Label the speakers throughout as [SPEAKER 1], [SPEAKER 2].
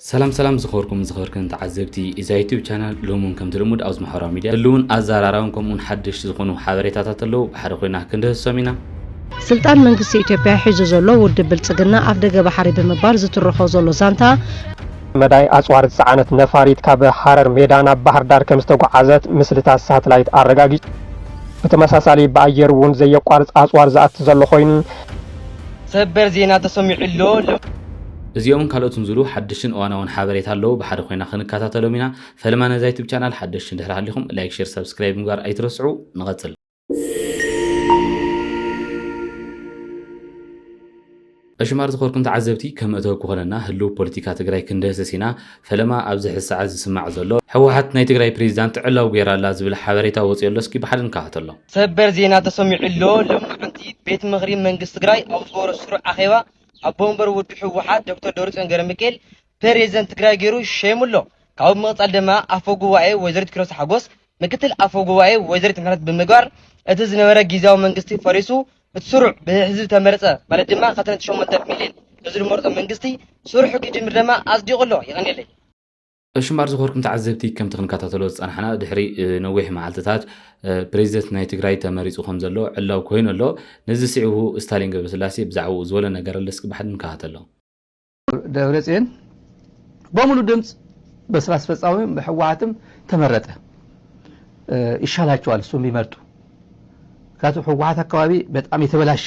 [SPEAKER 1] ሰላም ሰላም ዝኸበርኩምን ዝኸበርክንን ተዓዘብቲ እዛ ዩቱብ ቻናል ሎሚ እውን ከምቲ ልሙድ ኣብዚ ማሕበራዊ ሚድያ ህልውን ኣዘራራብን ከምኡውን ሓደሽቲ ዝኾኑ ሓበሬታታት ኣለዉ ብሓደ ኮይና ክንድህሶም ኢና። ስልጣን
[SPEAKER 2] መንግስቲ ኢትዮጵያ ሒዙ ዘሎ ውድብ ብልፅግና ኣፍደገ ባሕሪ ብምባል ዝትርኾ ዘሎ ዛንታ፣ መዳይ
[SPEAKER 3] ኣጽዋር ዝጸዓነት ነፋሪት ካብ ሃረር ሜዳ ናብ ባህርዳር ከምዝተጓዓዘት ምስልታት ሳትላይት ኣረጋጊጹ። ብተመሳሳሊ ብኣየር እውን ዘየቋርጽ ኣጽዋር ዝኣቲ ዘሎ ኮይኑ፣
[SPEAKER 4] ሰበር ዜና ተሰሚዑ ኣሎ።
[SPEAKER 1] እዚኦምን ካልኦትን ዝብሉ ሓደሽትን እዋናውን ሓበሬታ ኣለው ብሓደ ኮይና ክንከታተሎም ኢና ፈለማ ነዛ ዩቱብ ቻናል ሓደሽቲ እንድሕር ሃሊኹም ላይክ ሼር ሰብስክራይብ ምግባር ኣይትረስዑ ንቐፅል ዕሽማር ዝኾርኩም ተዓዘብቲ ከም መእተዊ ክኾነና ህልው ፖለቲካ ትግራይ ክንደህስስ ኢና ፈለማ ኣብዚ ሕዚ ሰዓት ዝስማዕ ዘሎ ህወሓት ናይ ትግራይ ፕሬዚዳንት ዕላው ገይራ ኣላ ዝብል ሓበሬታ ወፂኦ ኣሎ እስኪ ብሓደ ንከታተሎ ሰበር ዜና
[SPEAKER 4] ተሰሚዑ ኣሎ ሎሚ መዓልቲ ቤት ምኽሪ መንግስቲ ትግራይ ኣብ ዝገበሮ ስሩዕ ኣኼባ ኣቦ ወንበር ውድብ ህወሓት ዶክተር ደብረፅዮን ገረሚካኤል ፕሬዝደንት ትግራይ ገይሩ ሸይሙ'ሎ። ካብኡ ብምቕፃል ድማ ኣፈ ጉባኤ ወይዘሪት ኪሮስ ሓጎስ ምክትል ኣፈ ጉባኤ ወይዘሪት ምሕረት ብምግባር እቲ ዝነበረ ጊዚያዊ መንግስቲ ፈሪሱ እቲ ስሩዕ ብህዝቢ ዝተመረፀ ማለት ድማ ከተንት ሸሞንተ ሚሊየን ህዝቢ ዝመረፆ መንግስቲ ስርሑ ክጅምር ድማ ኣፅዲቑ'ሎ። የቐንየለይ። እሺ እምበኣር
[SPEAKER 1] ዝኸርኩም ተዓዘብቲ ከምቲ ክንከታተሎ ዝጸናሕና ድሕሪ ነዊሕ መዓልትታት ፕሬዚደንት ናይ ትግራይ ተመሪጹ ከም ዘሎ ዕላው ኮይኑ ኣሎ። ነዚ ስዒቡ ስታሊን ገብረስላሴ ብዛዕባኡ ዝበሎ ነገር ኣሎ እስኪ ብሓድ ንከታተሎ። ደብረጽዮን
[SPEAKER 5] በሙሉ ድምፅ በስራ አስፈጻሚም በሕወሓትም ተመረጠ ይሻላቸዋል እሱም ቢመርጡ ምክንያቱ ሕወሓት አካባቢ በጣም የተበላሸ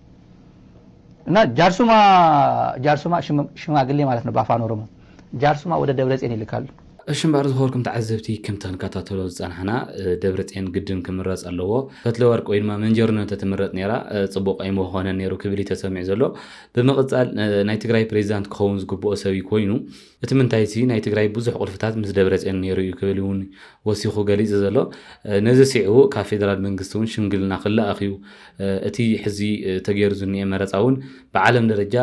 [SPEAKER 5] እና ጃርሱማ ጃርሱማ ሽማግሌ ማለት ነው በአፋን ኦሮሞ ጃርሱማ ወደ ደብረጼን ይልካሉ። እሺ እምበኣር ዝኸበርኩም
[SPEAKER 1] ተዓዘብቲ ከምቲ ክንከታተሎ ዝጸናሕና ደብረጼን ግድን ክምረጽ ኣለዎ ፈትለወርቅ ወይ ድማ መንጀርኖ እንተትምረጽ ነይራ ጽቡቕ ኣይምኾነን ነይሩ ክብል እዩ ተሰሚዑ ዘሎ ብምቕጻል ናይ ትግራይ ፕሬዚዳንት ክኸውን ዝግብኦ ሰብ እዩ ኮይኑ እቲ ምንታይሲ ናይ ትግራይ ብዙሕ ቁልፍታት ምስ ደብረፅዮን ነይሩ እዩ ክብል እውን ወሲኹ ገሊፁ ዘሎ። ነዚ ስዒቡ ካብ ፌደራል መንግስቲ እውን ሽምግልና ክለኣኽ እዩ። እቲ ሕዚ ተገይሩ ዝኒኤ መረፃ እውን ብዓለም ደረጃ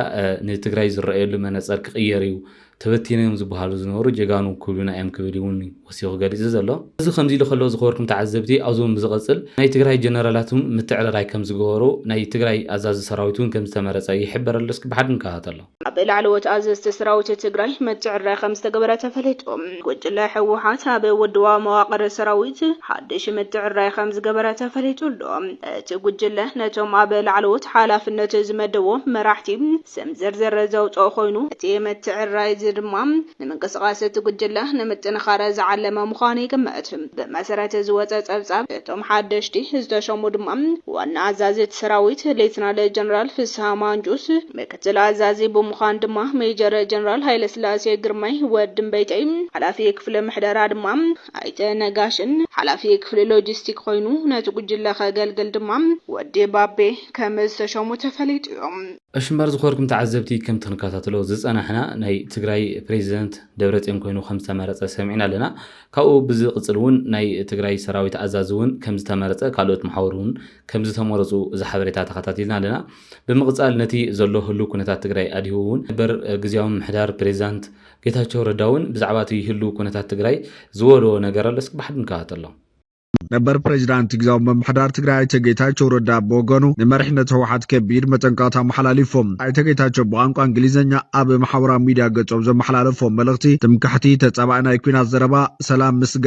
[SPEAKER 1] ንትግራይ ዝረኣየሉ መነፀር ክቕየር እዩ። ተበቲኖም እዮም ዝበሃሉ ዝነበሩ ጀጋኑ ክብሉና እዮም ክብል እውን ወሲኹ ገሊፁ ዘሎ። እዚ ከምዚ ኢሉ ከሎ ዝኸበርኩም ተዓዘብቲ ኣብዚ እውን ብዝቕፅል ናይ ትግራይ ጀነራላት እውን ምትዕርራይ ከምዝገበሩ ናይ ትግራይ ኣዛዚ ሰራዊት እውን ከምዝተመረፀ ይሕበር ኣሎ። እስኪ ብሓደ ንከታተሎ። ኣብ ላዕለዎት
[SPEAKER 6] ኣዘዝቲ ሰራዊት ትግራይ ምትዕርራይ ከምዝተገበረ ተፈሊጡ። ጉጅለ ህወሓት ኣብ ውድባዊ መዋቕር ሰራዊት ሓድሽ ምትዕርራይ ከምዝገበረ ተፈሊጡ ኣሎ። እቲ ጉጅለ ነቶም ኣብ ላዕለዎት ሓላፍነት ዝመደቦም መራሕቲ ስም ዝርዝር ዘውፀኦ ኮይኑ፣ እቲ ምትዕርራይ እዚ ድማ ንምንቅስቓስ እቲ ጉጅለ ንምጥንኻር ዝዓለመ ምዃኑ ይግመት። ብመሰረት ዝወፀ ፀብፃብ፣ እቶም ሓደሽቲ ዝተሾሙ ድማ ዋና ኣዛዚ እቲ ሰራዊት ሌተናል ጀነራል ፍስሃ ማንጁስ፣ ምክትል ኣዛዚ ብምዃን ድማ ሜጀር ጀነራል ሃይለስላሴ ግርማይ፣ ወዲ እምበይተይ፣ ሓላፊ ክፍሊ ምሕደራ ድማ ኣይተ ነጋሽን ሓላፊ ክፍሊ ሎጂስቲክ ኮይኑ ነቲ ጉጅለ ከገልግል ድማ ወዲ ባቤ ከም ዝተሸሙ ተፈሊጡ'ዩ። እሺ እምበር ዝኾርኩም
[SPEAKER 1] ተዓዘብቲ ከምቲ ክንከታተሎ ዝጸናሕና ናይ ትግራይ ፕሬዚደንት ደብረጽዮን ኮይኑ ከምዝተመረጸ ሰሚዕና ኣለና ካብኡ ብዝቅጽል እውን ናይ ትግራይ ሰራዊት ኣዛዚ እውን ከምዝተመረጸ ካልኦት መሓውር እውን ከምዝተመረጹ እዚ ሓበሬታ ተኸታቲልና ኣለና ብምቕፃል ነቲ ዘሎ ህሉው ኩነታት ትግራይ ኣድሂቡ እውን ነበር ግዝያዊ ምምሕዳር ፕሬዚዳንት ጌታቸው ረዳ እውን ብዛዕባ እቲ ህሉው ኩነታት ትግራይ ዝበልዎ ነገር ኣሎ። እስኪ ብሓድ ንከታተሎም። ነበር
[SPEAKER 7] ፕሬዚዳንት ግዝያዊ ምምሕዳር ትግራይ ኣይተ ጌታቸው ረዳ ብወገኑ ንመሪሕነት ህወሓት ከቢድ መጠንቀቕታ ኣመሓላሊፉ። ኣይተ ጌታቸው ብቋንቋ እንግሊዘኛ ኣብ ማሕበራዊ ሚዲያ ገፆም ዘመሓላለፍዎ መልእኽቲ ትምክሕቲ፣ ተፃባኢ ናይ ኲናት ዘረባ፣ ሰላም ምስጋ፣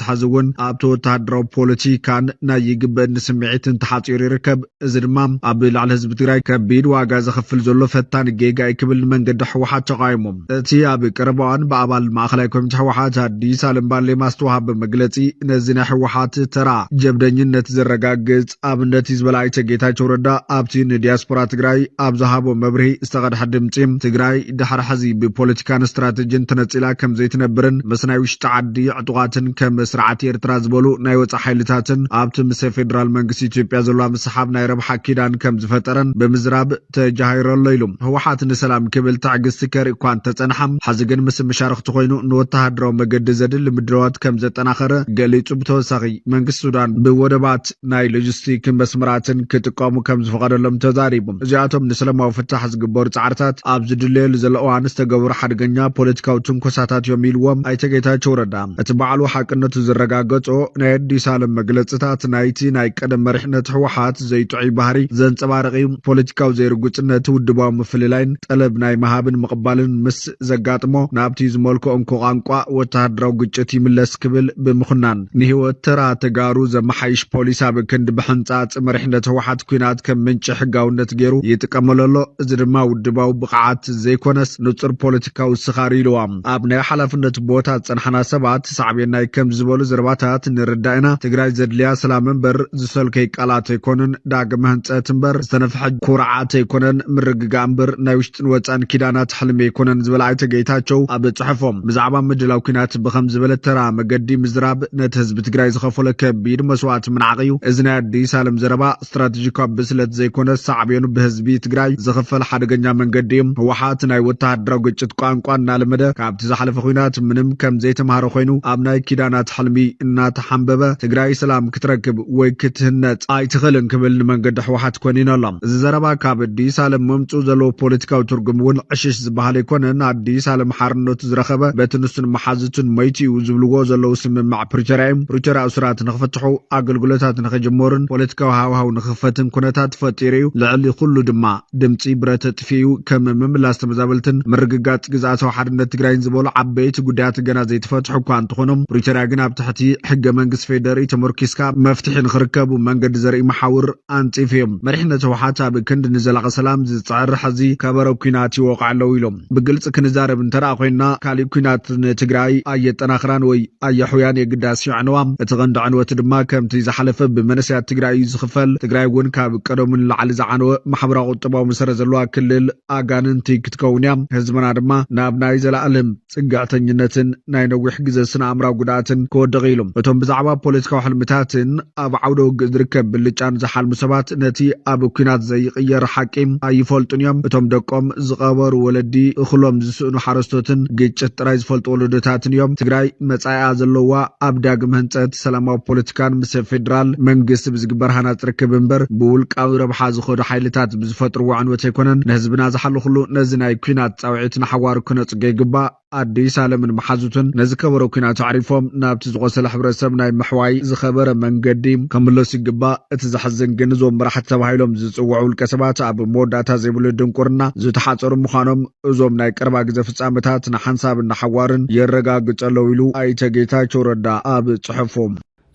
[SPEAKER 7] ሓትሓዚ እውን ኣብቲ ወተሃደራዊ ፖለቲካን ናይ ይግበእኒ ስምዒትን ተሓፂሩ ይርከብ። እዚ ድማ ኣብ ልዕሊ ህዝቢ ትግራይ ከቢድ ዋጋ ዘኽፍል ዘሎ ፈታኒ ጌጋ እዩ ክብል ንመንገዲ ህወሓት ተቓዊሙ። እቲ ኣብ ቀረባ እዋን ብኣባል ማእኸላይ ኮሚቴ ህወሓት ኣዲስ ኣለም ባሌማ ዝተውሃበ መግለፂ ነዚ ናይ ህወሓት ተራ ጀብደኝነት ዘረጋግፅ ኣብነት እዩ ዝበለ ኣይተ ጌታቸው ረዳ ኣብቲ ንዲያስፖራ ትግራይ ኣብ ዝሃቦ መብርሂ ዝተቐድሐ ድምፂ ትግራይ ድሕሪ ሕዚ ብፖለቲካን ስትራቴጂን ተነፂላ ከምዘይትነብርን ምስ ናይ ውሽጢ ዓዲ ዕጡቓትን ከም ስርዓት ኤርትራ ዝበሉ ናይ ወፃእ ሓይልታትን ኣብቲ ምስ ፌዴራል መንግስቲ ኢትዮጵያ ዘለዋ ምስሓብ ናይ ረብሓ ኪዳን ከምዝፈጠረን ብምዝራብ ተጃሂሩ ኣሎ ኢሉ። ህወሓት ንሰላም ክብል ትዕግስቲ ከርኢ'ኳ እንተጸንሓ፣ ሕዚ ግን ምስ መሻርኽቱ ኮይኑ ንወተሃደራዊ መገዲ ዘድሊ ምድላዋት ከምዘጠናኸረ ገሊጹ። ብተወሳኺ መንግስቲ ሱዳን ብወደባት ናይ ሎጂስቲክ መስመራትን ክጥቀሙ ከምዝፈቐደሎም ተዛሪቡ። እዚኣቶም ንሰለማዊ ፍታሕ ዝግበሩ ጻዕርታት ኣብ ዝድለየሉ ዘሎ እዋን ዝተገበሩ ሓደገኛ ፖለቲካዊ ትንኮሳታት እዮም ኢሉዎም ኣይተ ጌታቸው ረዳ። እቲ ባዕሉ ሓቅነቱ ዝረጋገጾ ናይ ኣዲስ ኣለም መግለጽታት ናይቲ ናይ ቀደም መሪሕነት ህወሓት ዘይጥዑይ ባህሪ ዘንጸባርቕ እዩ። ፖለቲካዊ ዘይርጉጽነት፣ ውድባዊ ምፍልላይን ጠለብ ናይ ምሃብን ምቕባልን ምስ ዘጋጥሞ፣ ናብቲ ዝመልክኦ እንኮ ቋንቋ ወተሃደራዊ ግጭት ይምለስ ክብል ብምኹናን፣ ንህይወት ተራ ተጋሩ ዘመሓይሽ ፖሊስ ኣብ ክንዲ ብሕንጻጽ መሪሕነት ህወሓት ኲናት ከም ምንጪ ሕጋውነት ገይሩ ይጥቀመሉ ኣሎ። እዚ ድማ ውድባዊ ብቕዓት ዘይኮነስ ንጹር ፖለቲካዊ ስኻር ኢልዋ ኣብ ናይ ሓላፍነት ቦታ ዝጸናሕና ሰባት፣ እቲ ሳዕቤናይ ከምዚ ዝበሉ ዘረባታት ንርዳእ ኢና። ትግራይ ዘድልያ ሰላም እምበር ዝሰልከይ ቃላት ኣይኮኑን፣ ዳግመ ህንፀት እምበር ዝተነፍሐ ኩርዓት ኣይኮነን፣ ምርግጋእ እምበር ናይ ውሽጥን ወፃእን ኪዳናት ሕልሚ ኣይኮነን ዝበለ ኣይተ ጌታቸው ኣብ ፅሑፎም ብዛዕባ ምድላው ኲናት ብኸምዚ ዝበለ ተራ መገዲ ምዝራብ ነቲ ህዝቢ ትግራይ ዝኸፈሎ ከቢድ መስዋእቲ ምንዓቕ እዩ። እዚ ናይ ኣዲስ ኣለም ዘረባ ስትራቴጂካዊ ብስለት ዘይኮነስ ሳዕቤኑ ብህዝቢ ትግራይ ዝኽፈል ሓደገኛ መንገዲ እዩ። ህወሓት ናይ ወተሃደራዊ ግጭት ቋንቋ እናለመደ ካብቲ ዝሓለፈ ኹናት ምንም ከምዘይተምሃረ ኾይኑ ኣብ ናይ ኪዳናት ሕልሚ እናተሓምበበ ትግራይ ሰላም ክትረክብ ወይ ክትህነፅ ኣይትኽእልን ክብል ንመንገዲ ህወሓት ኮኒኑ ኣሎ። እዚ ዘረባ ካብ ኣዲስ ኣለም መምፅኡ ዘለዎ ፖለቲካዊ ትርጉም እውን ዕሽሽ ዝበሃል ኣይኮነን። ኣዲስ ኣለም ሓርነቱ ዝረኸበ በቲ ንሱን መሓዝቱን ሞይቱ እዩ ዝብልዎ ዘለዉ ስምምዕ ፕሪቶርያ እዩ። ፕሪቶርያ እሱራት ንኽፍትሑ፣ ኣገልግሎታት ንኽጅመሩን ፖለቲካዊ ሃዋህው ንኽኽፈትን ኩነታት ፈጢሩ እዩ። ልዕሊ ኹሉ ድማ ድምፂ ብረ ተጥፊኡ ከም ምምላስ ተመዛበልትን ምርግጋፅ ግዝኣታዊ ሓድነት ትግራይን ዝበሉ ዓበይቲ ጉዳያት ገና ዘይተፈትሑ እኳ እንተኾኑ ፕሪቶርያ ግን ኣብ ትሕቲ ሕገ መንግስቲ ፌዴሪኢ ተመርኪስካ መፍትሒ ንኽርከቡ መንገዲ ዘርኢ መሓውር ኣንፂፉ እዩ። መሪሕነት ህውሓት ኣብ ክንዲ ንዘላቒ ሰላም ዝፅዕር ሕዚ ከበሮ ኩናት ይወቕዑ ኣለው ኢሉ ብግልፂ ክንዛረብ እንተደኣ ኮይንና ካሊእ ኩናት ንትግራይ ኣየጠናኽራን ወይ ኣየሕውያን የግዳስ የዕንዋ። እቲ ቀንዲ ዕንወት ድማ ከምቲ ዝሓለፈ ብመንእሰያት ትግራይ እዩ ዝኽፈል። ትግራይ እውን ካብ ቀደሙ ንላዕሊ ዝዓነወ ማሕበራዊ ቁጠባዊ መሰረት ዘለዋ ክልል ኣጋንንቲ ክትከውን እያ። ህዝብና ድማ ናብ ናይ ዘለኣለም ፅግዕተኝነትን ናይ ነዊሕ ግዘ ስነ ኣእምራዊ ጉድኣትን ክወድቕ እዩ ኢሉ። እቶም ብዛዕባ ፖለቲካዊ ሕልምታትን፣ ኣብ ዓውደ ውግእ ዝርከብ ብልጫን ዝሓልሙ ሰባት ነቲ ኣብ ኲናት ዘይቕየር ሓቂ ኣይፈልጡን እዮም። እቶም ደቆም ዝቐበሩ ወለዲ፣ እኽሎም ዝስእኑ ሓረስቶትን ግጭት ጥራይ ዝፈልጡ ወለዶታትን እዮም። ትግራይ መጻኢኣ ዘለዋ ኣብ ዳግም ህንጸት፣ ሰላማዊ ፖለቲካን ምስ ፌደራል መንግስቲ ብዝግበር ሃናጺ ርክብ እምበር ብውልቃዊ ረብሓ ዝኸዱ ሓይልታት ብዝፈጥርዎ ዕንወት ኣይኮነን። ንህዝብና ዝሓለኹሉ ነዚ ናይ ኲናት ጻውዒት ንሓዋሩ ክነጽጎ ይግባእ። ኣዲስ ኣለምን መሓዙትን ነዚ ከበሮ ኩናት ኣዕሪፎም ናብቲ ዝቖሰለ ሕብረተሰብ ናይ ምሕዋይ ዝኸበረ መንገዲ ከምለሱ ይግባእ። እቲ ዘሕዝን ግን እዞም መራሕቲ ተባሂሎም ዝጽውዑ ውልቀ ሰባት ኣብ መወዳእታ ዘይብሉ ድንቁርና ዝተሓጸሩ ምዃኖም እዞም ናይ ቀረባ ግዘ ፍጻመታት ንሓንሳብን ንሓዋሩን የረጋግጸለዉ ኢሉ ኣይተ ጌታቸው ረዳ ኣብ ጽሑፉ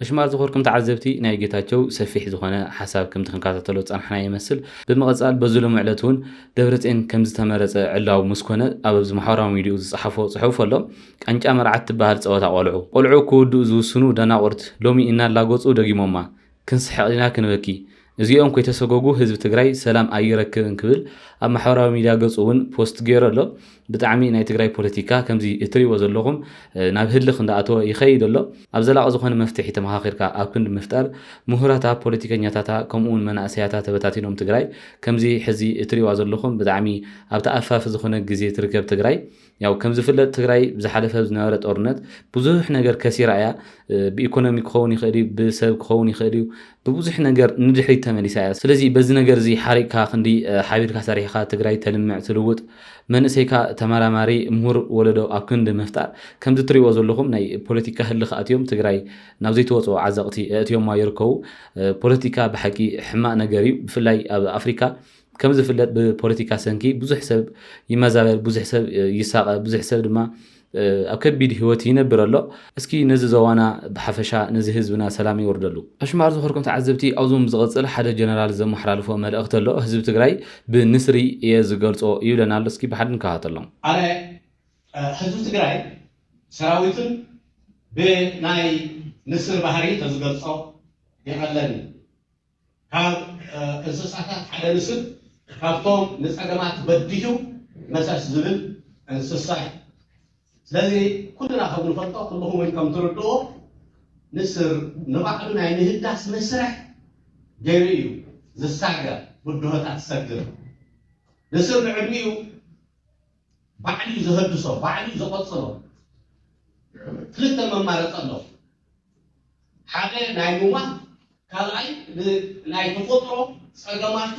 [SPEAKER 7] ኣሽማት ዝኮርኩም
[SPEAKER 1] ተዓዘብቲ ናይ ጌታቸው ሰፊሕ ዝኮነ ሓሳብ ከምቲ ክንካታተሎ ዝጸናሕናዮ ይመስል ብምቅጻል በዚ ሎሚ ዕለት ውን ደብረጼን ከምዝተመረጸ ዕላው ምስኮነ ኣብ ኣብዚ ማሕበራዊ ሚድይኡ ዝጸሓፎ ጽሑፍ ኣሎ ቃንጫ መርዓት ትበሃል ጸወታ ቆልዑ ቆልዑ ክውድኡ ዝውስኑ ደናቁርት ሎሚ እናላገጹ ደጊሞማ ክንስሕቅ ዲና ክንበኪ እዚኦም ከይተሰጎጉ ህዝቢ ትግራይ ሰላም ኣይረክብን ክብል ኣብ ማሕበራዊ ሚድያ ገፁ እውን ፖስት ገይሩ ኣሎ። ብጣዕሚ ናይ ትግራይ ፖለቲካ ከምዚ እትሪእዎ ዘለኹም ናብ ህልኽ እንዳኣተወ ይኸይድ ኣሎ። ኣብ ዘላቒ ዝኾነ መፍትሒ ተመኻኺርካ ኣብ ክንዲ ምፍጣር ሙሁራታ ፖለቲከኛታታ ከምኡ እውን መናእሰያታ ተበታቲኖም ትግራይ ከምዚ ሕዚ እትሪእዋ ዘለኹም ብጣዕሚ ኣብ ተኣፋፊ ዝኾነ ግዜ ትርከብ ትግራይ ያው ከምዝፍለጥ ትግራይ ብዝሓለፈ ዝነበረ ጦርነት ብዙሕ ነገር ከሲራ እያ ብኢኮኖሚ ክኸውን ይኽእል እዩ ብሰብ ክኸውን ይኽእል እዩ ብብዙሕ ነገር ንድሕሪት ተመሊሳ እያ ስለዚ በዚ ነገር እዚ ሓሪቕካ ክንዲ ሓቢርካ ሰሪሕካ ትግራይ ተልምዕ ትልውጥ መንእሰይካ ተመራማሪ ምሁር ወለዶ ኣብ ክንዲ ምፍጣር ከምዚ ትሪእዎ ዘለኹም ናይ ፖለቲካ ህልኽ ኣትዮም ትግራይ ናብ ዘይተወፅኦ ዓዘቕቲ ኣእትዮማ ይርከቡ ፖለቲካ ብሓቂ ሕማቕ ነገር እዩ ብፍላይ ኣብ ኣፍሪካ ከም ዝፍለጥ ብፖለቲካ ሰንኪ ብዙሕ ሰብ ይመዛበል፣ ብዙሕ ሰብ ይሳቐ፣ ብዙሕ ሰብ ድማ ኣብ ከቢድ ህይወት ይነብር ኣሎ። እስኪ ነዚ ዞባና ብሓፈሻ ነዚ ህዝብና ሰላም የውርደሉ። ኣሽማር ዝኸድኩም ተዓዘብቲ ኣብዞም ዝቕጽል ሓደ ጀነራል ዘመሓላልፎ መልእኽቲ ኣሎ ህዝቢ ትግራይ ብንስሪ እየ ዝገልጾ ይብለና ኣሎ እስኪ ብሓደ ንከታተሎም። ኣነ ህዝቢ
[SPEAKER 8] ትግራይ ሰራዊቱን ብናይ ንስር ባህሪ ተዝገልጾ ይቐለኒ። ካብ እንስሳታት ሓደ ንስብ ካብቶም ንጸገማት በዲሁ መሰስ ዝብል እንስሳ እዩ። ስለዚ ኩልና ከም ንፈልጦ ኩልኹም እውን ከም ትርድእዎ ንስር ንባዕሉ ናይ ምህዳስ መስርሕ ገይሩ እዩ ዝሳገር ብድሆታት ዝሰግር። ንስር ንዕድሚኡ ባዕሉ እዩ ዘህድሶ ባዕሉ እዩ ዘቐጽሎ። ክልተ መማረጺ ኣሎ። ሓደ ናይ ምሟት ካልኣይ ናይ ተፈጥሮ ጸገማቱ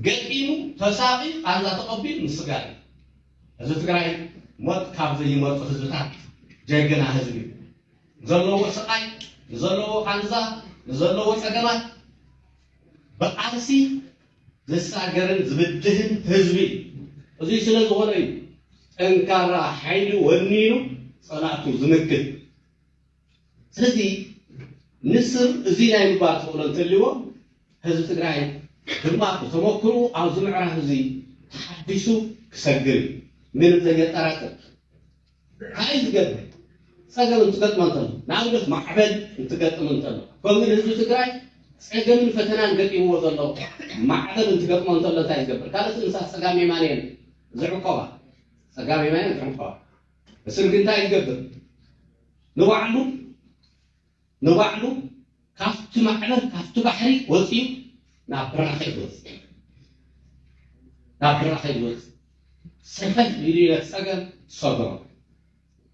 [SPEAKER 8] ገጢሙ ተሳቒ ቃንዛ ተቐቢሉ ምስጋር እዩ። ህዝቢ ትግራይ ሞት ካብ ዘይመርጹ ህዝብታት ጀግና ህዝቢ እዩ። ንዘለዎ ስቓይ፣ ንዘለዎ ቃንዛ፣ ንዘለዎ ጸገማት ብቃልሲ ዝሳገርን ዝብድህን ህዝቢ እዩ። እዙይ ስለ ዝኾነ እዩ ጠንካራ ሓይሊ ወኒኑ ፀላእቱ ዝምክት። ስለዚ ንስር እዙይ ናይ ምግባር ተኽእሎ እንተልዎ ህዝቢ ትግራይ ድማ ብተመክርኡ ኣብዚ ምዕራፍ እዙይ ተሓዲሱ ክሰግር እዩ። ምንም ዘየጠራጥር። ዓረይ ዝገብር ፀገም እንትገጥሞ እንተሎ ንኣብነት ማዕበል እንትገጥም እንተሎ ከምኡ ንህዝቢ ትግራይ ፀገምን ፈተናን ገጢምዎ ዘሎ ማዕበል እንትገጥሞ እንተሎ እንታይ ዝገብር ካልኦት እንስሳ ፀጋም የማን እየን ዝዕቆባ ፀጋም የማን እየን ዝዕቆባ እስርግ እንታይ ዝገብር ንባዕሉ ንባዕሉ ካብቲ ማዕበል ካብቲ ባሕሪ ወፂኡ ናብ ብራኸ ይወፅእ ናብ ብራኸ ይወፅእ ሰፈል ኢሉ ይነፀገን ሰገሮ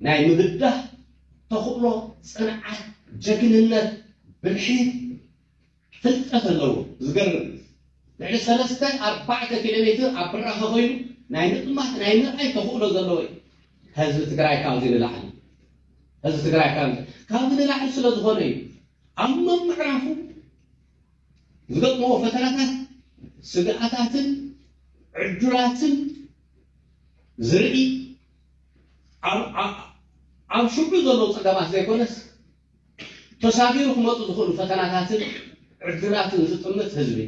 [SPEAKER 8] ናይ ምብዳህ ተኽእሎ፣ ፅንዓት፣ ጀግንነት፣ ብልሒ ፍልጠት ኣለዎ ዝገርም እዩ ልዕሊ ሰለስተ ኣርባዕተ ኪሎሜትር ኣብ ብራኸ ኮይኑ ናይ ምጥማት ናይ ምርኣይ ተኽእሎ ዘለዎ እዩ ህዝቢ ትግራይ ካብዚ ንላዕሊ ህዝቢ ትግራይ ካብዚ ንላዕሊ ስለ ዝኾነ እዩ ኣብ መምዕራፉ ዝገጥመዎ ፈተናታት ስግኣታትን ዕዱላትን ዝርኢ ኣብ ሽዑ ዘለዉ ፀገማት ዘይኮነስ ተሳጊሩ ክመጹ ዝኽእሉ ፈተናታትን ዕድላትን ዝጥምት ህዝቢ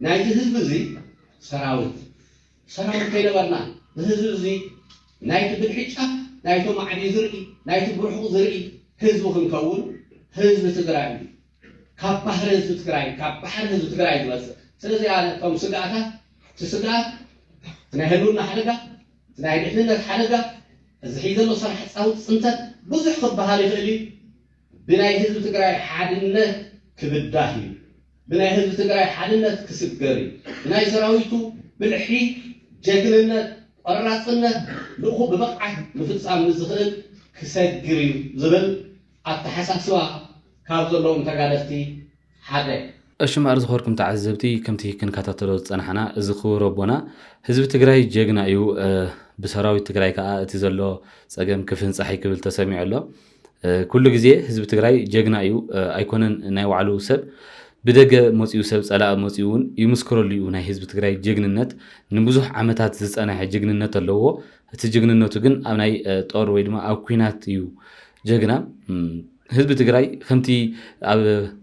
[SPEAKER 8] ናይዚ ህዝቢ እዚ ሰራዊት ሰራዊት ከይነበርና ንህዝቢ እዚ ናይቲ ብልሒ ጫፍ ናይቲ ማዕዲ ዝርኢ ናይቲ ብርሑቕ ዝርኢ ህዝቢ ክንከውን ህዝቢ ትግራይ እዩ ካብ ባህሪ ህዝቢ ትግራይ ካብ ባሕሪ ህዝቢ ትግራይ ዝመፅእ ስለዚ እቶም ስግኣታት እቲ ስግኣት ናይ ህልውና ሓደጋ ናይ ድሕንነት ሓደጋ እዚ ሕይ ዘሎ ሰራሕ ፃውቲ ፅንተት ብዙሕ ክበሃል ይኽእል እዩ። ብናይ ህዝቢ ትግራይ ሓድነት ክብዳህ እዩ። ብናይ ህዝቢ ትግራይ ሓድነት ክስገር እዩ። ብናይ ሰራዊቱ ብልሒ፣ ጀግንነት፣ ቆራፅነት ልእኹ ብብቕዓት ምፍፃም ንዝኽእል ክሰግር እዩ ዝብል ኣተሓሳስባ ካብ ዘለዎም ተጋደልቲ ሓደ። እሺ
[SPEAKER 1] እምበኣር ዝኸበርኩም ተዓዘብቲ ከምቲ ክንከታተሎ ዝጸናሕና እዚ ክቡር ኣቦና ህዝቢ ትግራይ ጀግና እዩ ብሰራዊት ትግራይ ከኣ እቲ ዘሎ ጸገም ክፍንጻሕይ ክብል ተሰሚዑ ኣሎ ኩሉ ግዜ ህዝቢ ትግራይ ጀግና እዩ ኣይኮነን ናይ ባዕሉ ሰብ ብደገ መጺኡ ሰብ ጸላእ መጺኡ እውን ይምስክረሉ እዩ ናይ ህዝቢ ትግራይ ጀግንነት ንብዙሕ ዓመታት ዝጸናሐ ጅግንነት ኣለዎ እቲ ጅግንነቱ ግን ኣብ ናይ ጦር ወይ ድማ ኣብ ኩናት እዩ ጀግና ህዝቢ ትግራይ ከምቲ ኣብ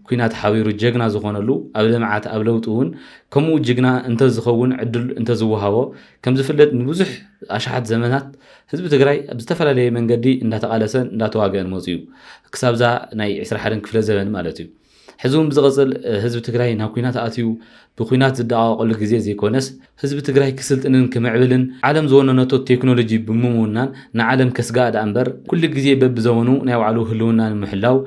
[SPEAKER 1] ኩናት ሓቢሩ ጀግና ዝኾነሉ ኣብ ልምዓት ኣብ ለውጢ እውን ከምኡ ጅግና እንተዝኸውን ዕድል እንተዝወሃቦ ከምዝፍለጥ ንብዙሕ ኣሽሓት ዘመናት ህዝቢ ትግራይ ኣብ ዝተፈላለየ መንገዲ እንዳተቓለሰን እንዳተዋገአን መፅኡ ክሳብዛ ናይ 21 ክፍለ ዘበን ማለት እዩ ሕዚ እውን ብዝቕፅል ህዝቢ ትግራይ ናብ ኩናት ኣትዩ ብኩናት ዝደቓቐሉ ግዜ ዘይኮነስ ህዝቢ ትግራይ ክስልጥንን ክምዕብልን ዓለም ዝወነነቶ ቴክኖሎጂ ብምውናን ንዓለም ከስግኣ ደኣ እምበር ኩሉ ግዜ በብዘመኑ ናይ ባዕሉ ህልውና ንምሕላው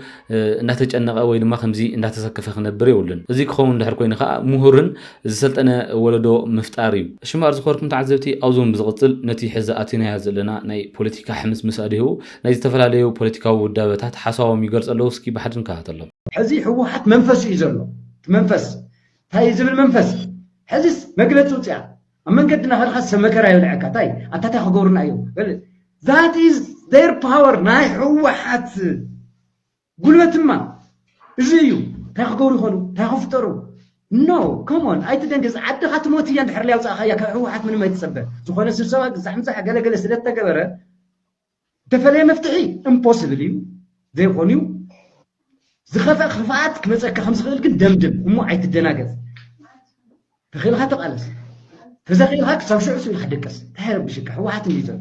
[SPEAKER 1] እንዳተጨነቐ ወይ ድማ ከምዚ እንዳተሰከፈ ክነብር የብሉን። እዚ ክኸውን ድሕር ኮይኑ ከዓ ምሁርን ዝሰልጠነ ወለዶ ምፍጣር እዩ። ሽምባር ዝኸበርኩም ተዓዘብቲ ኣብዚ እውን ብዝቕፅል ነቲ ሕዚ ኣቲናዮ ዘለና ናይ ፖለቲካ ሕምስምስ ኣድህቡ ናይ ዝተፈላለዩ ፖለቲካዊ ውዳበታት ሓሳቦም ይገልፁ ኣለዉ እስኪ ብሓደ ንከታተሎም። ሕዚ ህወሓት
[SPEAKER 9] መንፈሱ እዩ ዘሎ እቲ መንፈስ እንታይ እዩ ዝብል መንፈስ እዩ ሕዚስ መግለፂ ኣውፂኣ ኣብ መንገዲ ናኸድካ ሰብ መከራ የብልዐካ እንታይ ኣታ እንታይ ክገብሩና እዮም that is their power ናይ ህወሓት ጉልበት እማ እዚ እዩ ታይ ክገብሩ ይኮኑ ታይ ክፍጠሩ no come on ኣይትደንግፅ ዓድካ ትሞት እያ እንድሕር ለይ ኣውፃእካያ ካብ ህወሓት ምንም ኣይትፀበ ዝኮነ ስብሰባ ግዛሕ ምዛሕ ገለ ገለ ስለ ዝተገበረ ዝተፈለየ መፍትሒ እምፖስብል እዩ ዘይኮን እዩ ዝከፈእ ክፍኣት ክመፀካ ከም ዝክእል ግን ደምድም እሞ ኣይትደናገፅ ተክኢልካ ተቃለስ ተዘክኢልካ ክሳብ ሽዑ ስኢልካ ደቀስ ታይ ረብሽካ ህወሓት እንድዩ ዘሎ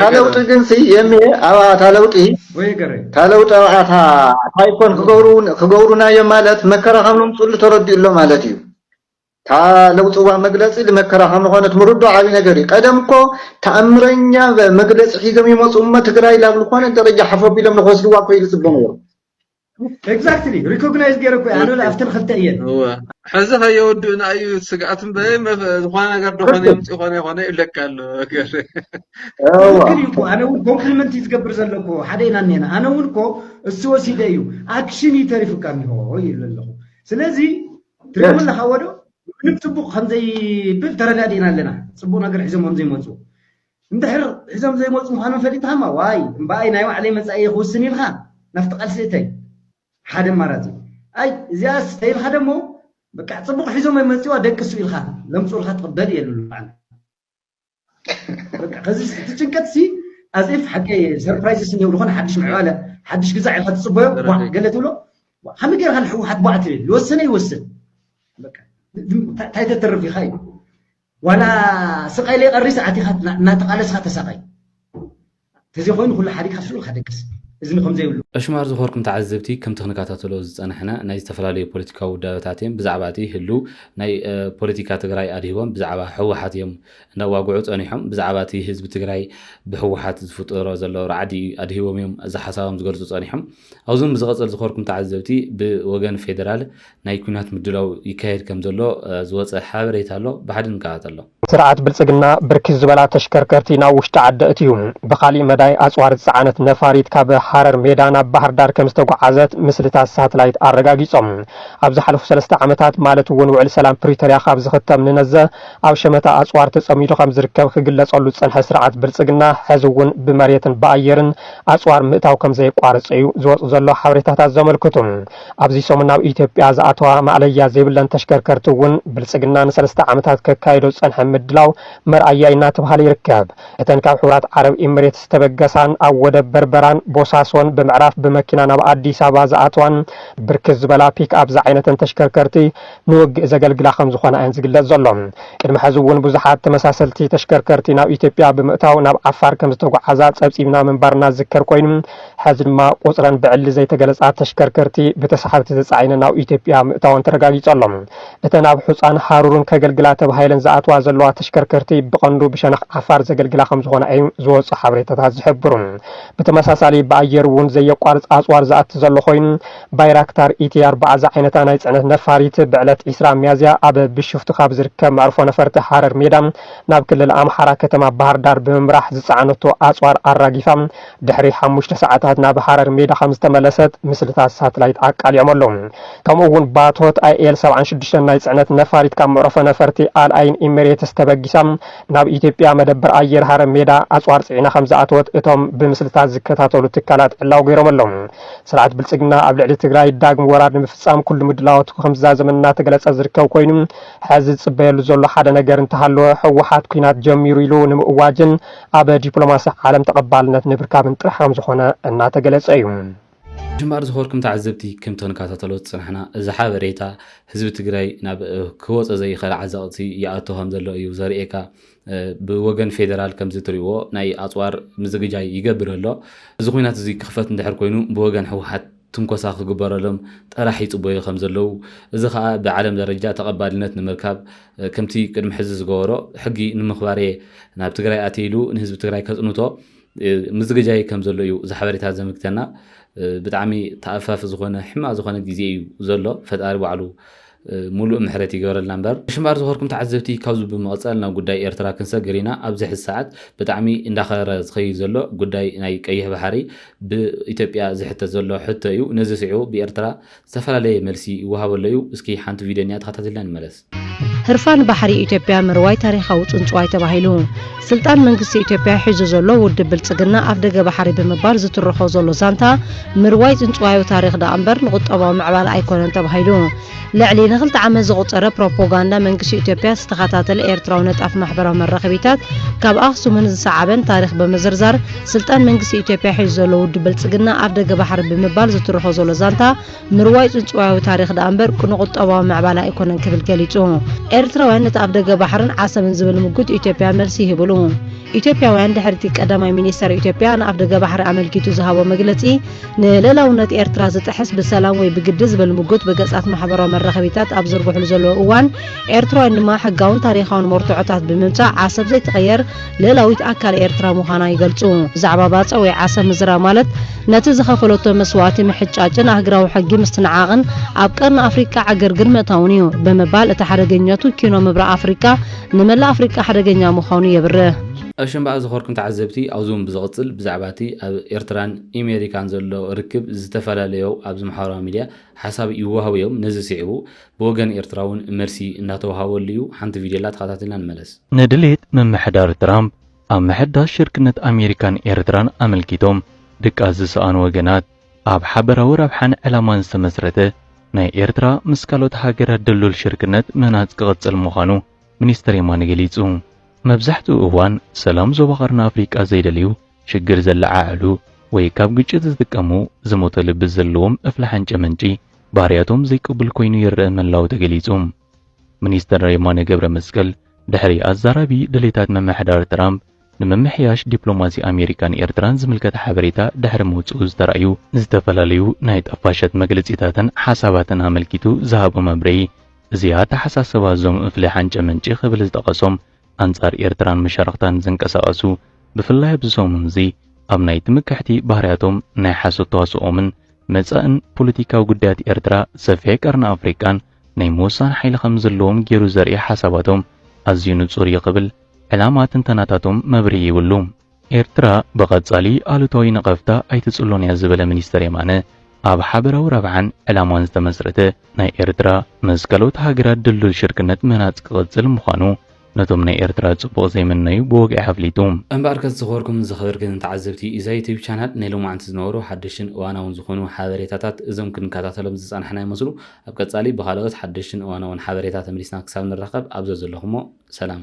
[SPEAKER 10] ታለውጢ ግንሲ የምየ ኣብኣ ታለውጢ ታለውጢ ኣብኣ ታይኮን ክገብሩና እዮም ማለት መከራ ከም ንምፅሉ ተረዲኡ ኣሎ ማለት እዩ ታለውጢ እዋ መግለፂ መከራ ከም ዝኾነት ምርዶ ዓብዪ ነገር እዩ ቀደም እኮ ተኣምረኛ መግለፂ ሒዞም ይመፁ እሞ ትግራይ ላብ ዝኾነ ደረጃ ሓፈቢሎም ንክወስድዋ እኮ ይፅበ ነይሩ ኤግዛክትሊ
[SPEAKER 9] ሪኮግናይዝ ገይረ እኮ ኣነ ኣብተን ክልተ እየን ሕዚ
[SPEAKER 10] ከየወድኡና እዩ ስግኣት እምበይ ዝኾነ ነገር ደኾነ የምፅ ይኾነ ይኾነ ይብለካ ኣሎ ትክክል
[SPEAKER 9] እዩ እኮ ኣነ እውን ኮምፕሊመንት እዩ ዝገብር ዘለኩ ሓደ ኢና እኒና ኣነ እውን እኮ እሱ ወሲደ እዩ ኣክሽን እዩ ተሪፉካ እኒሆ ይብል ኣለኹ ስለዚ ትሪእዎ ኣለካ ወዶ ምንም ፅቡቅ ከምዘይብል ተረዳዲእና ኣለና ፅቡቅ ነገር ሒዞም ከምዘይመፁ እንድሕር ሒዞም ዘይመጹ ምዃኖም ፈሊጥኻማ እዋይ እምበኣይ ናይ ባዕለይ መጻኢ እየ ክውስን ኢልካ ናብቲ ቃልሲ እተይ ሓደ ኣማራጺ እዩ ኣይ እዚኣስ ተይልካ ደሞ በቃ ጽቡቕ ሒዞም ኣይመጽዋ ደቅሱ ኢልካ ለምጹልካ ትቕበል እየ ልሉ ኣነ በቃ ከዚ እቲ ጭንቀት ሲ ኣዝፍ ሓቂ ሰርፕራይዝስ እንዲው ዝኾነ ሓድሽ ምዕባለ ሓድሽ ግዛዕ ኢልካ ትጽበዮ ቧዕ ገለ ትብሎ ከመይ ጌርካ ንሕወሓት ቧዕ ትብል ዝወሰነ ይወስን እንታይ ተትርፍ ኢኻ እዩ ዋላ ስቀል የቀሪስ ኣቲካ እናተቃለስካ ተሳቀይ ተዘይኮይኑ ኩሉ ሓዲግካ ሱቅ ኢልካ ደቅስ እዝኒ ከምዘይብሉ። ዕሽማር ዝኮርኩም ተዓዘብቲ
[SPEAKER 1] ከምቲ ክንካታተሎ ዝጸናሕና ናይ ዝተፈላለዩ ፖለቲካዊ ውዳበታት እዬም ብዛዕባ እቲ ህሉው ናይ ፖለቲካ ትግራይ ኣድሂቦም ብዛዕባ ህወሓት እዬም እንዳዋግዑ ጸኒሖም ብዛዕባ እቲ ህዝቢ ትግራይ ብህወሓት ዝፍጠሮ ዘሎ ራዕዲ ኣድሂቦም እዬም እዚ ሓሳቦም ዝገልጹ ጸኒሖም ኣብዞም ብዝቐጸል ዝኸርኩም ተዓዘብቲ ብወገን ፌደራል ናይ ኩናት ምድላው ይካየድ ከምዘሎ ዝወጸ ሓበሬታ ኣሎ ብሓደ ንከታተሎ። ስርዓት ብልፅግና
[SPEAKER 3] ብርክት ዝበላ ተሽከርከርቲ ናብ ውሽጢ ዓዲ ኣእትዩ። ብኻሊእ መዳይ ኣፅዋር ዝፀዓነት ነፋሪት ካብ ሃረር ሜዳ ናብ ባህርዳር ከምዝተጉዓዘት ምስልታት ሳትላይት ኣረጋጊፆም። ኣብ ዝሓለፉ ሰለስተ ዓመታት ማለት እውን ውዕሊ ሰላም ፕሪቶርያ ካብ ዝኽተም ንነዘ ኣብ ሸመታ ኣፅዋር ተፀሚዱ ከምዝርከብ ክግለፀሉ ዝፀንሐ ስርዓት ብልፅግና ሕዚ እውን ብመሬትን ብኣየርን ኣጽዋር ምእታው ከም ዘየቋረጸ'ዩ ዝወጽእ ዘሎ ሓበሬታታት ዘመልክቱ። ኣብዚ ሰሙን ናብ ኢትዮጵያ ዝኣተዋ ማእለያ ዘይብለን ተሽከርከርቲ'ውን ብልጽግና ንሰለስተ ዓመታት ከካይዶ ዝጸንሐ ምድላው መርኣያ እናተብሃለ ይርከብ። እተን ካብ ሕቡራት ዓረብ ኤሚሬትስ ዝተበገሳን ኣብ ወደብ በርበራን ቦሳሶን ብምዕራፍ ብመኪና ናብ ኣዲስ ኣበባ ዝኣተዋን ብርክት ዝበላ ፒክኣፕ ዝዓይነተን ተሽከርከርቲ ንውግእ ዘገልግላ ከም ዝኾና እየን ዝግለጽ ዘሎ። ቅድሚ ሕዚ እውን ብዙሓት ተመሳሰልቲ ተሽከርከርቲ ናብ ኢትዮጵያ ብምእታው ናብ ዓፋር ከም ዝተጉዓዛ ጸብጺብና ምንባርና ዝዝከር ኮይኑ፣ ሕዚ ድማ ቁጽረን ብዕሊ ዘይተገለጻ ተሽከርከርቲ ብተሳሓብቲ ተጻዒነን ናብ ኢትዮጵያ ምእታወን ተረጋጊጹ ኣሎ። እተን ኣብ ሑጻን ሃሩርን ከገልግላ ተባሂለን ዝኣትዋ ዘለዋ ተሽከርከርቲ ብቐንዱ ብሸነኽ ዓፋር ዘገልግላ ከም ዝኾና እዩ ዝወጹ ሓበሬታታት ዝሕብሩ። ብተመሳሳሊ ብኣየር እውን ዘየቋርጽ ኣጽዋር ዝኣቲ ዘሎ ኮይኑ፣ ባይራክታር ኢቲ ኣርብዓ ዝዓይነታ ናይ ጽዕነት ነፋሪት ብዕለት ዕስራ ሚያዝያ ኣብ ቢሾፍቱ ካብ ዝርከብ መዕርፎ ነፈርቲ ሃረር ሜዳ ናብ ክልል ኣምሓራ ከተማ ባህርዳር ብምምራሕ ዝጸዓነቶ ኣጽዋር ኣራጊፋ ድሕሪ ሓሙሽተ ሰዓታት ናብ ሃረር ሜዳ ከም ዝተመለሰት ምስልታት ሳትላይት ኣቃሊዖም ኣለዉ። ከምኡ'ውን ባቶት ኣይኤል ሰብዓን ሽዱሽተን ናይ ጽዕነት ነፋሪት ካብ መዕርፎ ነፈርቲ ኣል ኣይን ኢሚሬትስ ተበጊሳ ናብ ኢትዮጵያ መደበር ኣየር ሃረር ሜዳ ኣጽዋር ጽዒና ከም ዝኣተወት እቶም ብምስልታት ዝከታተሉ ትካላት ዕላዊ ገይሮም ኣለዉ። ስርዓት ብልፅግና ኣብ ልዕሊ ትግራይ ዳግም ወራር ንምፍፃም ኩሉ ምድላዋቱ ከምዝዛዘመ እናተገለፀ ዝርከብ ኮይኑ ሐዚ ዝፅበየሉ ዘሎ ሓደ ነገር እንተሃለወ ህወሓት ኲናት ጀሚሩ ኢሉ ንምእዋጅን ኣብ ዲፕሎማሲ ዓለም ተቐባልነት ንምርካብን ጥራሕ ከምዝኾነ እናተገለፀ እዩ። ግንባር
[SPEAKER 1] ዝኸርኩም ተዓዘብቲ ከምቲ ክንከታተሎ ዝፀናሕና እዚ ሓበሬታ ህዝቢ ትግራይ ናብ ክወፆ ዘይኸእል ዓዘቕቲ ይኣቱ ከምዘሎ እዩ ዘርእየካ። ብወገን ፌደራል ከምዚ እትሪእዎ ናይ ኣፅዋር ምዝግጃይ ይገብር ኣሎ። እዚ ኹናት እዚ ክኽፈት እንድሕር ኮይኑ ብወገን ህወሓት ትንኮሳ ክግበረሎም ጥራሕ ይፅበዩ ከም ዘለዉ እዚ ከዓ ብዓለም ደረጃ ተቐባልነት ንምርካብ ከምቲ ቅድሚ ሕዚ ዝገበሮ ሕጊ ንምኽባር እየ ናብ ትግራይ ኣትየ ኢሉ ንህዝቢ ትግራይ ከፅንቶ ምዝግጃይ ከም ዘሎ እዩ እዚ ሓበሬታ ዘመልክተና። ብጣዕሚ ተኣፋፊ ዝኾነ ሕማቕ ዝኾነ ግዜ እዩ ዘሎ። ፈጣሪ ባዕሉ ሙሉእ ምሕረት ይገበረልና እምበር። ሽምባር ዝኸርኩም ተዓዘብቲ ካብዚ ብምቕጻል ናብ ጉዳይ ኤርትራ ክንሰግር ኢና። ኣብዚ ሕዚ ሰዓት ብጣዕሚ እንዳኸረረ ዝኸይድ ዘሎ ጉዳይ ናይ ቀይሕ ባሕሪ ብኢትዮጵያ ዝሕተት ዘሎ ሕቶ እዩ። ነዚ ስዒቡ ብኤርትራ ዝተፈላለየ መልሲ ይወሃቦ ኣሎ እዩ። እስኪ ሓንቲ ቪድዮ እኒኣ ተኸታቲልና ንመለስ። ህርፋን
[SPEAKER 2] ባሕሪ ኢትዮጵያ ምርዋይ ታሪኻዊ ጽንጽዋይ ተባሂሉ። ስልጣን መንግስቲ ኢትዮጵያ ሒዙ ዘሎ ውድብ ብልጽግና ኣፍደገ ባሕሪ ብምባል ዝትርኾ ዘሎ ዛንታ ምርዋይ ጽንጽዋዩ ታሪኽ ደኣምበር ንቁጠባዊ ምዕባለ ኣይኮነን ተባሂሉ ልዕሊ ንክልተ ዓመት ዘቑጸረ ፕሮፖጋንዳ መንግስቲ ኢትዮጵያ ዝተኸታተለ ኤርትራዊ ነጣፍ ማሕበራዊ መራኸቢታት ካብ ኣኽሱምን ዝሰዓበን ታሪኽ ብምዝርዛር ስልጣን መንግስቲ ኢትዮጵያ ሒዙ ዘሎ ውድብ ብልጽግና ኣፍ ደገ ባሕሪ ብምባል ዝትርኾ ዘሎ ዛንታ ምርዋይ ጽንጽዋያዊ ታሪኽ ደኣምበር ቅኑዕ ቁጠባዊ ምዕባለ ኣይኮነን ክብል ገሊጹ። ኤርትራውያን ነቲ ኣፍ ደገ ባሕርን ዓሰብን ዝብል ምጉት ኢትዮጵያ መልሲ ይህብሉ። ኢትዮጵያውያን ድሕሪ'ቲ ቀዳማይ ሚኒስተር ኢትዮጵያ ንኣፍ ደገ ባሕሪ ኣመልኪቱ ዝሃቦ መግለጺ ንልእላውነት ኤርትራ ዝጥሕስ ብሰላም ወይ ብግዲ ዝብል ምጉት ብገጻት ማሕበራዊ መራኸቢታት ኣብ ዝዝርግሕሉ ዘለዉ እዋን ኤርትራውያን ድማ ሕጋውን ታሪኻውን መርትዖታት ብምምጻእ ዓሰብ ዘይትቐየር ልእላዊት ኣካል ኤርትራ ምዃና ይገልጹ። ብዛዕባ ባጽዕ ወይ ዓሰብ ምዝራብ ማለት ነቲ ዝኸፈለቶ መስዋእቲ ምሕጫጭን ኣህግራዊ ሕጊ ምስትንዓቕን ኣብ ቀርኒ ኣፍሪቃ ዕግርግር ምእታውን እዩ ብምባል እቲ ሓደገኛቱ ኪኖ ምብራቕ ኣፍሪቃ ንመላእ ኣፍሪቃ ሓደገኛ ምዃኑ የብርህ። ኣሸምባኣ ዝኸርኩም
[SPEAKER 1] ተዓዘብቲ ኣብዚውን ብዝቕጽል ብዛዕባ እቲ ኣብ ኤርትራን ኢሜሪካን ዘሎ ርክብ ዝተፋላለዮው ኣብዚ ማሕበራዊ ሚድያ ሓሳብ ይዋሃቡ እዮም ነዚ ሲዒቡ ብወገን ኤርትራ እውን መልሲ እንዳተውሃበሉ እዩ። ሓንቲ ቪድዮላ ተኸታቲልና ንመለስ። ንድሌት
[SPEAKER 11] ምምሕዳር ትራምፕ ኣብ ምሕዳስ ሽርክነት ኣሜሪካን ኤርትራን ኣመልኪቶም ድቃስ ዝሰኣኑ ወገናት፣ ኣብ ሓበራዊ ረብሓን ዕላማን ዝተመስረተ ናይ ኤርትራ ምስ ካልኦት ሃገራት ድልዱል ሽርክነት ምህናጽ ክቕጽል ምዃኑ ሚኒስተር የማነ ገሊጹ። መብዛሕትኡ እዋን ሰላም ዞባ ቀርኒ ኣፍሪቃ ዘይደልዩ ሽግር ዘለዓዕሉ ወይ ካብ ግጭት ዝጥቀሙ ዝሞተ ልቢ ዘለዎም እፍሊ ሓንጨ መንጪ ባህርያቶም ዘይቅቡል ኮይኑ ይረኣ ምህላዉ ተገሊጹ። ሚኒስተር የማነ ገብረመስቀል ድሕሪ ኣዛራቢ ድሌታት ምምሕዳር ትራምፕ ንምምሕያሽ ዲፕሎማሲ ኣሜሪካን ኤርትራን ዝምልከት ሓበሬታ ድሕሪ ምውጽኡ ዝተራእዩ ዝተፈላለዩ ናይ ጠፋሸት መግልጺታትን ሓሳባትን ኣመልኪቱ ዝሃቦ መብርሂ እዚ ኣተሓሳስባ እዞም እፍሊ ሓንጨ መንጪ ክብል ዝጠቐሶም ኣንጻር ኤርትራን መሻርኽታን ዝንቀሳቐሱ ብፍላይ ኣብዚ ሰሙን'ዚ ኣብ ናይ ትምክሕቲ ባህርያቶም ናይ ሓሶት ተዋስኦምን መጻእን ፖለቲካዊ ጉዳያት ኤርትራ ሰፊሕ ቀርኒ ኣፍሪቃን ናይ ምውሳን ሓይሊ ከም ዘለዎም ጌሩ ዘርኢ ሓሳባቶም ኣዝዩ ንጹር እዩ ክብል ዕላማ ትንተናታቶም መብርሂ ይብሉ። ኤርትራ ብቐጻሊ ኣሉታዊ ነቐፍታ ኣይትጽሎን እያ ዝበለ ሚኒስተር የማነ፣ ኣብ ሓበራዊ ረብሓን ዕላማን ዝተመስረተ ናይ ኤርትራ ምስ ካልኦት ሃገራት ድልዱል ሽርክነት ምህናጽ ክቕጽል ምዃኑ ነቶም ናይ ኤርትራ ጽቡቕ ዘይምነዩ ብወግዒ ኣፍሊጡ። እምበኣርከስ ዝኸበርኩምን
[SPEAKER 1] ዝኸበርክንን ተዓዘብቲ ኢዛ ዩቱብ ቻናል ናይ ሎማዓንቲ ዝነበሩ ሓደሽትን እዋናውን ዝኾኑ ሓበሬታታት እዞም ክንከታተሎም ዝጸናሕና ይመስሉ ኣብ ቀጻሊ ብኻልኦት ሓደሽትን እዋናውን ሓበሬታ ተመሊስና ክሳብ ንራኸብ ኣብ ዘዘለኹሞ ሰላም